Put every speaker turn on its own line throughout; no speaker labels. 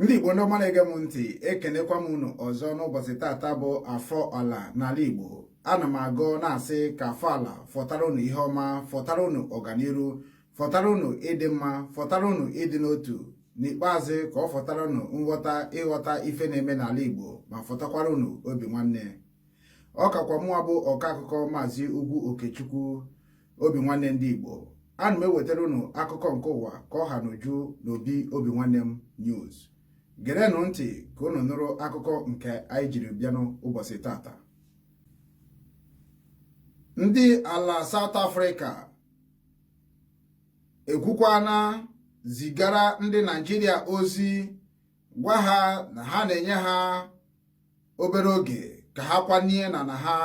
ndị igbo ndị ọma na-ege m ntị ekenekwa m unu ọzọ n'ụbọchị tata bụ afọ ala n'ala igbo ana m agọ na-asị ka afọ ala fọtara unu ihe ọma fọtara unu ọganiru fọtara unu ịdị mma fọtara unu ịdị n'otu n'ikpeazụ ka ọ fọtara unu nghọta ịghọta ife na-eme n'ala igbo ma fọtakwara unu obi nwanne ọ kakwa mụwa bụ ọka akụkọ maazị ugwu okechukwu obi nwanne ndị Igbo ana m ewetara unu akụkọ nke ụwa ka ọ ha n'uju n'obi Obinwannem news gerenụ ntị ka unu nụrụ akụkọ nke anyị jiri bịanụ ụbọchị tata ndị ala South Africa ekwukwana zigara ndị Naịjirịa ozi gwa ha na ha na-enye ha obere oge ka ha kwanye na na ha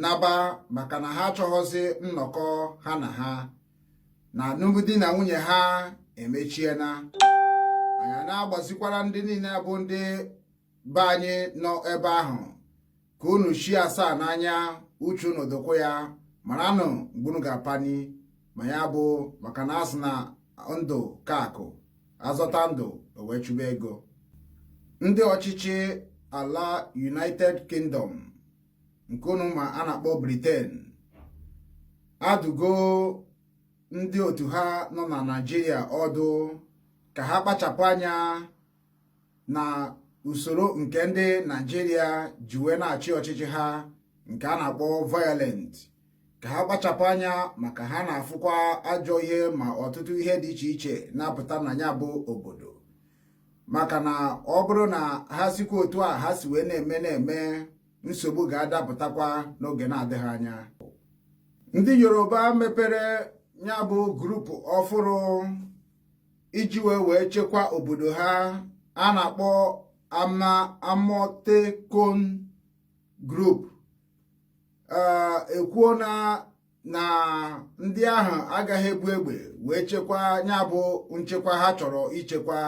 naba maka na ha achọghọzi nnọkọ ha na ha na alụmdi na nwunye ha emechiena anyị na-agbazikwara ndị niile bụ ndị be anyị nọ ebe ahụ ka unu shie asaa n'anya uche unu dokwa ya maranụ mgbe unu ga-apani ma ya bụ maka na a sị na ndụ ka akụ a zọta ndụ e wee chụba ego ndị ọchịchị ala United Kingdom nke unu ma a na-akpọ Britain adụgo ndị otu ha nọ na Naịjirịa ọdụ ka ha kpachapụ anya na usoro nke ndị Naịjirịa ji wee na-achị ọchịchị ha nke a na-akpọ violent ka ha kpachapụ anya maka ha na-afụkwa ajọ ihe ma ọtụtụ ihe dị iche iche na-apụta na ya bụ obodo maka na ọ bụrụ na ha sikwa otu a ha si wee na-eme na-eme nsogbu ga-adapụtakwa n'oge na-adịghị anya ndị yoruba mepere ya bụ group ọfụrụ iji wee wee chekwa obodo ha a na-akpọ ama amotekun group ekwuona na ndị ahụ agaghị ebu egbe wee chekwa ya bụ nchekwa ha chọrọ ichekwa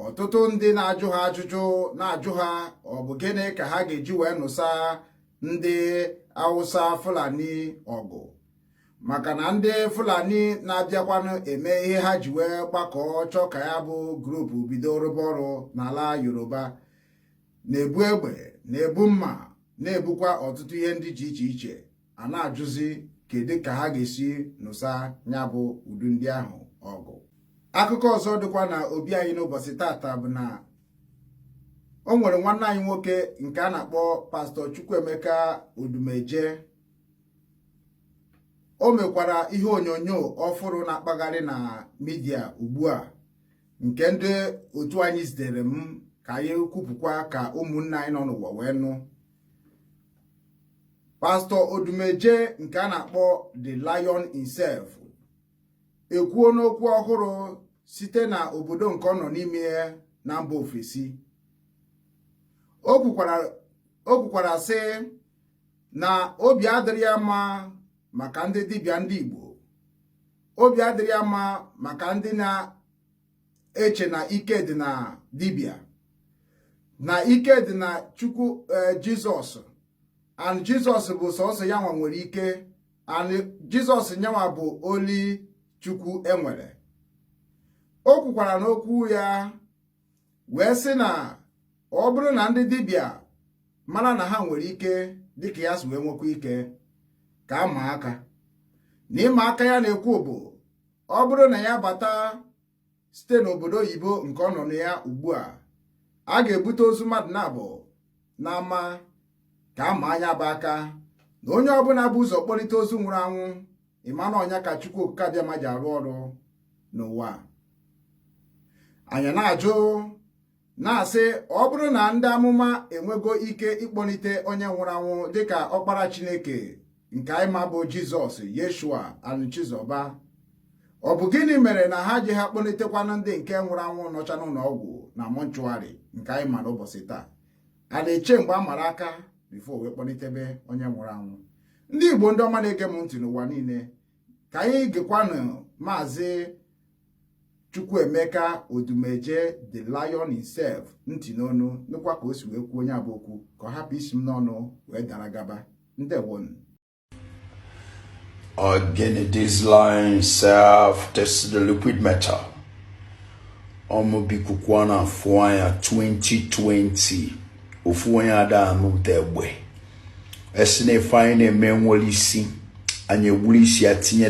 ọtụtụ ndị na-ajụ ha ajụjụ na-ajụ ha ọ bụ gịnị ka ha ga-eji wee nụsa ndị awụsa fulani ọgụ maka na ndị fulani na-abịakwanụ eme ihe ha ji wee gbakọọ chọọ ka ya bụ group bido rụba ọrụ n'ala yoruba na-ebu egbe na-ebu mma na-ebukwa ọtụtụ ihe ndị dị iche iche a na-ajụzi kedu ka ha ga-esi nụsa ya bụ ụdị ndị ahụ ọgụ akụkọ ọzọ dịkwa na obi anyị n'ụbọchị tata bụ na o nwere nwanne anyị nwoke nke a na-akpọ pastọ Chukwuemeka Odumeje o mekwara ihe onyonyo ọfụrụ na-akpagharị na midia ugbu a nke ndị otu anyị zitere m ka anyị kwupụkwa ka ụmụnne anyị nọ n'ụwa wee nụ pastọ odumeje nke a na-akpọ the lion himself ekwuona okwu ọhụrụ site na obodo nke ọ nọ n'ime ya na mba ofesi o kwukwara sị na obi adịrị ya mma maka ndị dibịa ndị Igbo obi adịrị ya mma maka ndị na eche na ike dị na dibịa na ike dị na chukwu eh, jizọs and jizọs bụ sọsọ yanwa nwere ike and jizọs nyanwa bụ only chukwu e nwere o kwukwara n'okwu ya wee sị na ọ bụrụ na ndị dibịa mara na ha nwere ike dịka ya si wee nwekwa ike ka a maa aka na ịma aka ya na-ekwu bụ ọ bụrụ na ya bata site n'obodo oyibo nke ọ nọ na ya ugbu a a ga-ebute ozu mmadụ naabọ n'ama ka a maa nya bụ aka na onye ọbụla bu ụzọ kpọlite ozu nwụrụ anwụ ị ma na ọ nya ka Chukwu Okike Abịama ji arụ ọrụ n'ụwa anyị na-ajụ na-asị ọ bụrụ na ndị amụma enwego ike ịkpọlite onye nwụrụ anwụ dịka ọkpara Chineke nke anyị ma bụ Jizọs Yeshua Anuchizoba ọ bụ gịnị mere na ha ji ha kpọlitekwanụ ndị nke nwụrụ anwụ nọcha n'ụlọ ọgwụ na mortuary nke anyị ma n'ụbọchị taa a na-eche mgbe a mara aka before wee kpọlitebe onye nwụrụ anwụ ndị Igbo ndị ọma na-ege m ntị n'ụwa niile ka anyị gekwanụ maazị Chukwuemeka Odumeje the lion himself ntị n'ọnụ nụkwa ka o si wee kwuo nya bụ okwu ka ọ hapụ isi m n'ọnụ wee dara gaba ndewonu
again this lion himself this is the liquid metal ọ mụ bụ ikuku a na-afụ anya 2020 ofu onye ada anụ ụda egbe a sị na ife anyị na-eme enwerọ isi anyị egburu isi ya tinye